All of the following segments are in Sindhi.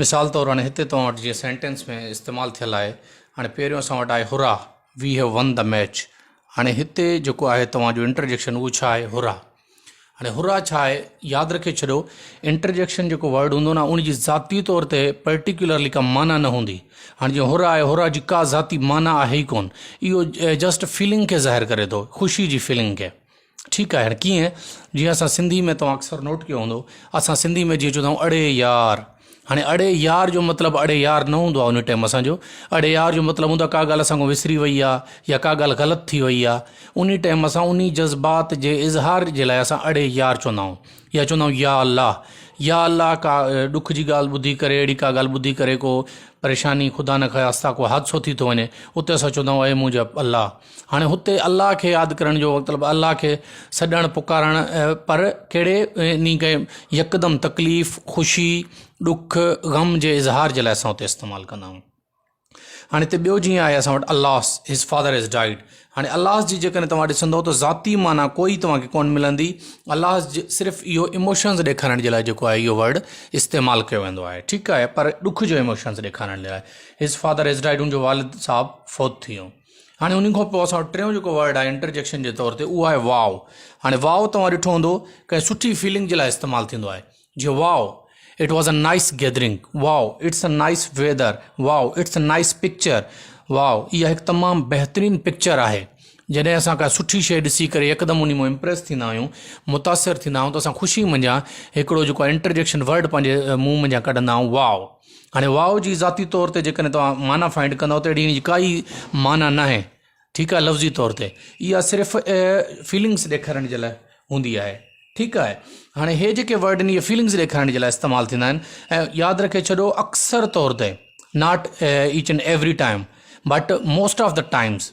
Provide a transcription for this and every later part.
مثال طور هاڻي هتي توهان وٽ جيئن سينٽينس ۾ استعمال ٿيل آهي هاڻي پهريون اسان وٽ آهي here we have won the match هاڻي هتي جيڪو آهي توهان جو انٽرجيڪشن اهو ڇا آهي هرا هاڻي هرا ڇا آهي ياد رکي ڇڏيو انٽرجيڪشن جيڪو ورڊ هوندو نه ان جي ذاتي طور تي پرٽيڪولرلي ڪا معنی نه هوندي هاڻي جيئن هرا آهي هرا جي ڪا ذاتي معنی آهي ئي ڪون اهو جسٽ فيلنگ کي ظاهر ڪري ٿو خوشي جي فيلنگ کي ٺيڪ آهي هاڻي ڪيئن جيئن اسان سنڌي ۾ توهان اڪثر نوٽ ڪيو هوندو اسان سنڌي ۾ جيئن چوندايون اڙي يار هاڻي اڙي يار جو مطلب اڙي يار نه هوندو آهي ان ٽيم اسانجو اڙي يار جو مطلب هوندو آهي ڪا ڳالهه اسان کان وسري وئي آهي يا ڪا ڳالهه غلط ٿي وئي آهي ان ٽيم اسان ان جذبات جي اظهار جي لاء اسان اڙي يار چوندا آهيون يا چوندا آهيون يا الله يا الله ڪا ڏک جي ڳالهه ٻڌي ڪري اهڙي ڪا ڳالهه ٻڌي ڪري ڪو پريشاني خدا نخواسته ڪو حادثو ٿي ٿو وڃي اتي اسان چوندا آهيون اي منهنجا الله هاڻي هتي الله کي ياد ڪرڻ جو وقت مطلب الله کي سڏڻ پڪارڻ پر ڪهڙي ني ڪي يڪدم تڪليف خوشي ڏک غم جي اظهار جي لاء اسان اتي استعمال ڪندا آهيون هاڻي هتي ٻيو جيئن آهي اسان وٽ alas his father is died هاڻي الاس جي جيڪڏهن توهان ڏسندو ته ذاتي معنی ڪوئي توهانکي ڪون ملندي الاس صرف اهو اموشنز ڏيکارڻ جي لاء جيڪو آهي اهو ورڊ استعمال ڪيو ويندو آهي ٺيڪ آهي پر ڏک جو اموشنز ڏيکارڻ جي لاء هز فادر از ڊائيڊ ان جو والد صاحب فوت ٿي ويو هاڻي ان کان پوء اسان وٽ ٽيون جيڪو ورڊ آهي انٽرجيڪشن جي طور تي اهو آهي واء هاڻي واء توهان ڏٺو هوندو ڪنهن سٺي فيلنگ جي لاء استعمال ٿيندو آهي جيئن wow it was a nice gathering wow it's a nice weather wow it's a nice picture wow اها هڪ تمام بهترين پڪچر آهي جڏهن اسان ڪا سٺي شيء ڏسي ڪري يڪدم ان مون امپريس ٿيندا آهيون متاثر ٿيندا آهيون ته اسان خوشي منجهان هڪڙو جيڪو انٽرجيڪشن ورڊ پنهنجي منهن منجهان ڪڍندا آهيون واء هاڻي واء جي ذاتي طور تي جيڪڏهن توهان معنيٰ فائنڊ ڪندو ته اهڙي ان جي ڪائي معنيٰ نه آهي ٺيڪ آهي لفظي طور تي اها صرف فيلنگس ڏيکارڻ جي لاء هوندي آهي ٺيڪ آهي هاڻي هي جيڪي ورڊ ان جي فيلنگس ڏيکارڻ جي لاء استعمال ٿيندا آهن ۽ ياد رکي ڇڏو اڪثر طور تي not each and every time but most of the times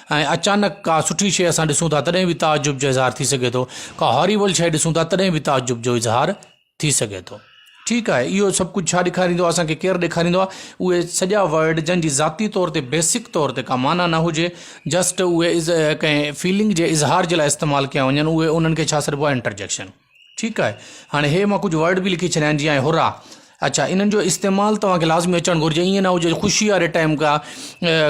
۽ اچانڪ ڪا سٺي شيء اسان ڏسون ٿا تڏهن به تعجب جو اظهار ٿي سگهي ٿو ڪا هاريبل شيء ڏسون ٿا تڏهن به تعجب جو اظهار ٿي سگهي ٿو ٺيڪ آهي اهو سڀ ڪجهه ڇا ڏيکاريندو آهي اسان کي ڪير ڏيکاريندو آهي اهي سڄا ورڊ جن جي ذاتي طور تي بيسڪ طور تي ڪا معنيٰ نه هجي جسٽ اهي ڪنهن فيلنگ جي اظهار جي لاء استعمال ڪيا وڃن اهي انهن کي ڇا سڏبو آهي انٽرجيڪشن ٺيڪ آهي هاڻي هي مان ڪجهه ورڊ به لکي ڇڏيا آهن جيئن هرا اچا انهن جو استعمال توهان کي لازمي اچڻ گهرجي ائين نه هجي خوشي واري ٽائيم کا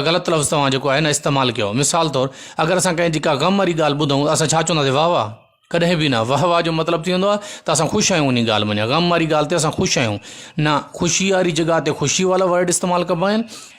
غلط لفظ توهان جيڪو آهي نه استعمال ڪيو مثال طور اگر اسان ڪنهن جي ڪا غم واري ڳالهه ٻڌون اسان ڇا چونداسي واهه واهه ڪڏهن به نه واهه واهه جو مطلب ٿي ويندو آهي ته اسان خوش آهيون انهي ڳالهه مان غم واري ڳالهه تي اسان خوش آهيون نه خوشي واري جڳهه تي خوشي والا ورڊ استعمال ڪبا آهن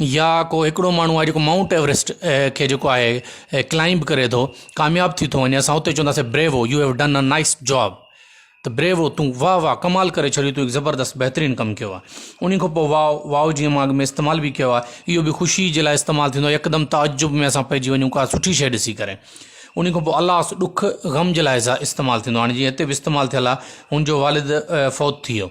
يا ڪو هڪڙو ماڻهو آهي جيڪو مائونٽ ايوريسٽ کي جيڪو آهي ڪلائمب ڪري ٿو ڪامياب ٿي ٿو وڃي اسان اتي چونداسي bravo you have done a nice job ته بريوو تون واهه واهه ڪمال ڪري ڇڏيو تون هڪ زبردست بهترين ڪم ڪيو آهي انهي کان پوء واء واء جيئن ماڳ ۾ استعمال به ڪيو آهي اهو به خوشي جي لاء استعمال ٿيندو آهي يڪدم تعجب ۾ اسان پئجي وڃون ڪا سٺي شيء ڏسي ڪري انهي کان پوء الاس ڏک غم جي لاء استعمال ٿيندو آهي هاڻي جيئن هتي به استعمال ٿيل آهي هن جو والد فوت ٿي ويو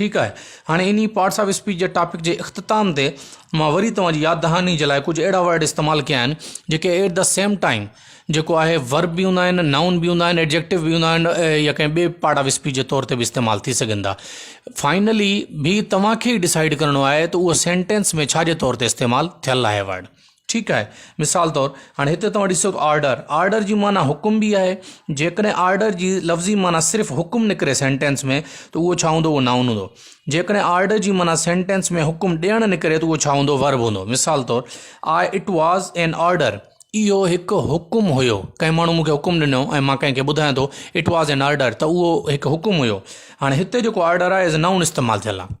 ٺيڪ آهي هاڻي انهي پارٽس آف اسپيچ جي ٽاپڪ جي اختتام تي مان وري توهان جي ياد دهاني جي لاء ڪجهه اهڙا ورڊ استعمال ڪيا آهن جيڪي ايٽ دا سيم ٽائيم جيڪو آهي ورب به هوندا آهن نائون به هوندا آهن ايڊجيڪٽو به هوندا آهن يا ڪنهن ٻي پارٽ آف اسپيچ جي طور تي به استعمال ٿي سگهن ٿا فائنلي به توهان کي ڊسائيڊ ڪرڻو آهي ته اهو سينٽينس ۾ ڇا جي طور تي استعمال ٿيل آهي ورڊ ٺيڪ آهي مثال طور هاڻي هتي توهان ڏسو ته آرڊر آرڊر جي معنيٰ حڪم بي آهي جيڪڏهن آرڊر جي لفظي معنيٰ صرف حڪم نڪري سينٽينس ۾ ته اهو ڇا هوندو اهو نائون هوندو جيڪڏهن آرڊر جي معنيٰ سينٽينس ۾ حڪم ڏيڻ نڪري ته اهو ڇا هوندو ورب هوندو مثال طور آء اٽ واز اين آرڊر اهو هڪ حڪم هيو ڪنهن ماڻهو مونکي حڪم ڏنو ۽ مان ڪنهن کي ٻڌايان ٿو اٽ واز اين آرڊر ته اهو هڪ حڪم هيو هاڻي هتي جيڪو آرڊر آهي ايز اي نائون استعمال ٿيل آهي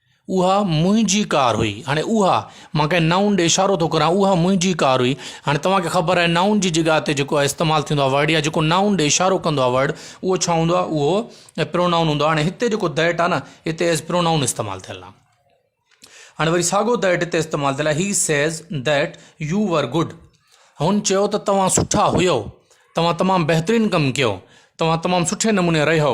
اها منهنجي ڪار هئي. هاڻي اها، مان ڪنهن نائون ڏي اشارو ٿو ڪران، اها منهنجي ڪار هئي. هاڻي توهان کي خبر آهي نائون جي جڳهه تي جيڪو استعمال ٿيندو آهي ورڊ يا جيڪو نائون ڏي اشارو ڪندو آهي ورڊ اهو ڇا هوندو آهي اهو پرونائون هوندو آهي. هاڻي هتي جيڪو ڌيٽ آهي نه هتي ايز پرونائون استعمال ٿيل آهي. هاڻي وري ساڳو ڌيٽ هتي استعمال ٿيل آهي he says that you were good هن چيو ته توهان سٺا هيو توهان تمام بهترين ڪم ڪيو توهان تمام سٺي نموني رهيو.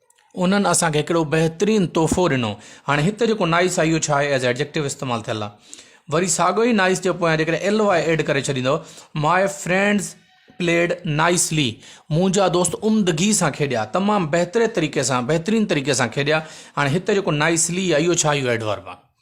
انهن اسان کي هڪڙو بهترين تحفو ڏنو هاڻي هت جيڪو نائس آهي اهو ڇا آهي ايز ايڊجيڪٽو استعمال ٿيل آهي وري ساڳو ئي نائس جي پويان جيڪڏهن ايل واء ايڊ ڪري ڇڏيندو ماء فرينڊز پليڊ نائسلي منهنجا دوست عمدگي سان کيڏيا تمام بهتري طريقي سان بهترين طريقي سان کيڏيا هاڻي هت جيڪو نائسلي آهي اهو ڇا اهو ايڊورب آهي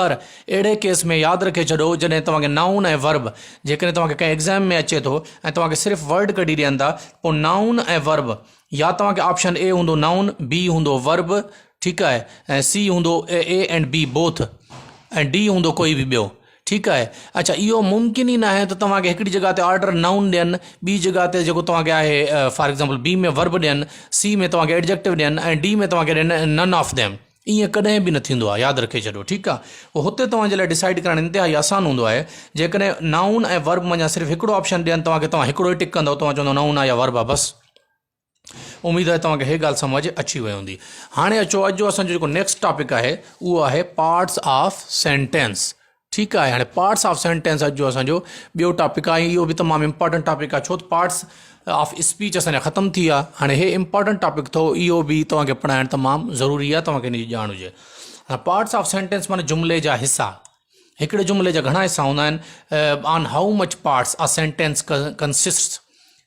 پر اهڙي ڪيس ۾ ياد رکي ڇڏو جڏهن توهان کي نائون ۽ ورب جيڪڏهن توهان کي ڪنهن ايگزام ۾ اچي ٿو ۽ توهان کي صرف ورڊ ڪڍي ڏين ٿا پوء نائون ۽ ورب يا توهان کي آپشن اي هوندو نائون بي هوندو ورب ٺيڪ آهي ۽ سي هوندو A and B both ۽ D هوندو ڪوئي به ٻيو ٺيڪ آهي اڇا اهو ممڪن ئي ناهي ته توهان کي هڪڙي جڳهه تي آرڊر نائون ڏين ٻي جڳهه تي جيڪو توهان کي آهي فار ايگزامپل بي ۾ ورب ڏين سي ۾ توهان کي ايڊجيڪٽو ڏين ۽ ڊي ۾ توهان کي ڏين نن آف ديم ائين ڪڏهن به نه ٿيندو آهي ياد رکي ڇڏيو ٺيڪ آهي پوء هتي توهان جي لاء ڊسائيڊ ڪرائڻ انتهائي آسان هوندو آهي جيڪڏهن نائون ۽ ورب منجهان صرف هڪڙو آپشن ڏين توهان کي توهان هڪڙو ئي ٽڪ ڪندو توهان چوندو نائون آهي يا ورب آهي بس اميد آهي توهان کي هي ڳالهه سمجهه اچي وئي هوندي هاڻي اچو اڄ جو اسان جو جيڪو نيڪسٽ ٽاپڪ آهي اهو آهي پارٽس آف سينٽينس ٺيڪ آهي هاڻي پارٽس آف سينٽينس اڄ جو اسانجو ٻيو ٽاپڪ آهي اهو به تمام امپارٽنٽ ٽاپڪ آهي ڇو ته پارٽس آف اسپيچ اسانجا ختم ٿي ويا هاڻي هي امپارٽنٽ ٽاپڪ اٿو اهو به توهانکي پڙهائڻ تمام ضروري آهي توهانکي ان جي ڄاڻ هجي هاڻي پارٽس آف سينٽينس معنی جملي جا حصا هڪڙي جملي جا گهڻا حصا هوندا آهن on how much parts a sentence consists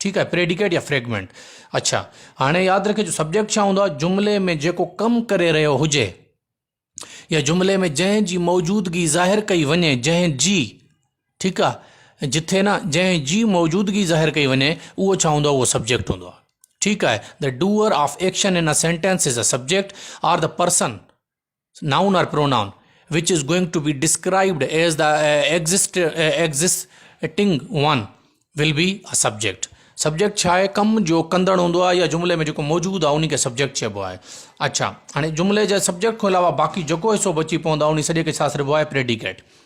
ٺيڪ آهي پريڊيڪيٽ يا فريگمينٽ اڇا هاڻي ياد رکي جو سبجيڪٽ ڇا هوندو آهي جملي ۾ جيڪو ڪم ڪري رهيو هجي يا جملي ۾ جنهن جي موجودگي ظاهر ڪئي وڃي جنهن جي ٺيڪ آهي جتي نه جنهن جي موجودگي ظاهر ڪئي وڃي اهو ڇا هوندو آهي اهو سبجيڪٽ هوندو آهي ٺيڪ آهي the doer of action in sentence is a subject or the person noun or pronoun which is going to be described as the existing one will be a subject subject ڇا آهي ڪم جو ڪندڙ هوندو آهي يا جملي ۾ جيڪو موجود آهي ان کي سبجيڪٽ چئبو آهي اڇا هاڻي جملي جي سبجيڪٽ کان علاوه باقي جيڪو حصو بچي پوندو آهي ان سڄي کي ڇا سڏبو آهي پريڊيڪيٽ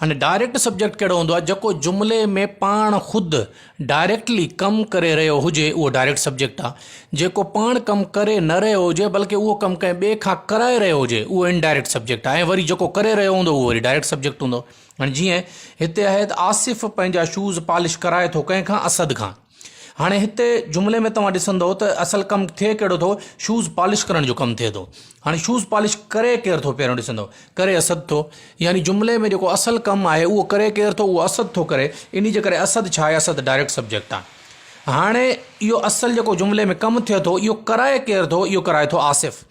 هاڻي ڊائريڪٽ سبجيڪٽ ڪهڙو هوندو آهي جيڪو جملي ۾ پاڻ خود ڊائريڪٽلي ڪم ڪري رهيو هجي اهو ڊائريڪٽ سبجيڪٽ آهي جيڪو پاڻ ڪم ڪري نه رهيو هجي بلڪه اهو ڪم ڪنهن ٻئي کان ڪرائي رهيو هجي اهو ان ڊائريڪٽ سبجيڪٽ آهي ۽ وري جيڪو ڪري رهيو هوندو اهو وري ڊائريڪٽ سبجيڪٽ هوندو هاڻي جيئن هتي آهي ته آصف پنهنجا شوز پالش ڪرائي ٿو ڪنهن کان اسد کان هاڻي هتي جملي ۾ توهان ڏسندو ته اصل ڪم ٿئي ڪهڙو ٿو شوز پالش ڪرڻ جو ڪم ٿئي ٿو هاڻي شوز پالش ڪري ڪير ٿو پهريون ڏسندو ڪري اسد ٿو يعني جملي ۾ جيڪو اصل ڪم آهي اهو ڪري ڪير ٿو اهو اسد ٿو ڪري انهي جي ڪري اسد ڇا آهي اسد ڊائريڪٽ سبجيڪٽ آهي هاڻي اهو اصل جيڪو جملي ۾ ڪم ٿئي ٿو اهو ڪرائي ڪير ٿو اهو ڪرائي ٿو آصف.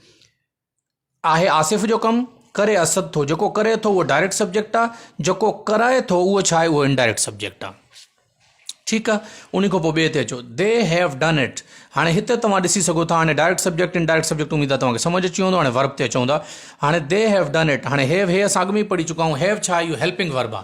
آهي آصف جو ڪم، ڪري اسد ٿو، جيڪو ڪري ٿو اهو ڊائريڪٽ سبجيڪٽ آ، جيڪو ڪرائي ٿو اهو ڇا آهي اهو انڊائريڪٽ سبجيڪٽ آ. ٺيڪ آ انهي کان پوء ٻئي تي اچو They have done it هاڻي هتي توهان ڏسي سگهو ٿا هاڻي ڊائريڪٽ سبجيڪٽ انڊائريڪٽ سبجيڪٽ اميد آ توهان کي سمجهه اچي ويو هوندو هاڻي ورب تي اچون ٿا هاڻي They have done it هاڻي have هي اسان اڳ ۾ ئي پڙهي چڪا آهيون have ڇا آهي اهو هيلپنگ ورب آ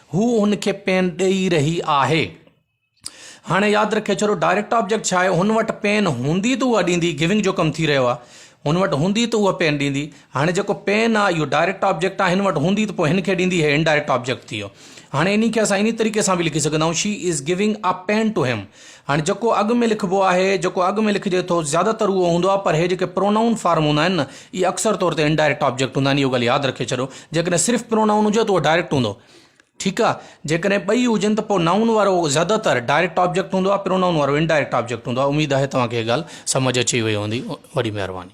هو هن کي پين ڏئي رهي آهي. هاڻي ياد رکي ڇڏو ڊائريڪٽ آبجيڪٽ ڇا آهي هن وٽ پين هوندي ته اها ڏيندي گيونگ جو ڪم ٿي رهيو آهي هن وٽ هوندي ته اها پين ڏيندي هاڻي جيڪو پين آهي اهو ڊائريڪٽ آبجيڪٽ آهي هن وٽ هوندي ته پوء هن کي ڏيندي هي انڊائريڪٽ آبجيڪٽ ٿي ويو هاڻي انهي کي اسان انهي طريقي سان به لکي سگهندا آهيون she is giving a pen to him هاڻي جيڪو اڳ ۾ لکبو آهي، جيڪو اڳ ۾ لکجي ٿو، زياده تر اهو هوندو آهي، پر هي جيڪي پرونائون فارم هوندا آهن نه، اهي اڪثر طور تي انڊائريڪٽ آبجيڪٽ هوندا آهن، اهو ڳالهه ياد رکي ڇڏيو. جيڪڏهن صرف پرونائون هجي ته اهو ڊائريڪٽ هوندو. ٺيڪ آهي. جيڪڏهن ٻئي هجن ته پوء نائون وارو زياده تر ڊائريڪٽ آبجيڪٽ هوندو آهي، پرونائون وارو انڊائريڪٽ آبجيڪٽ هوندو آهي. اميد آهي توهان کي هي ڳالهه سمجهه اچي وئي هوندي. وڏي مهرباني.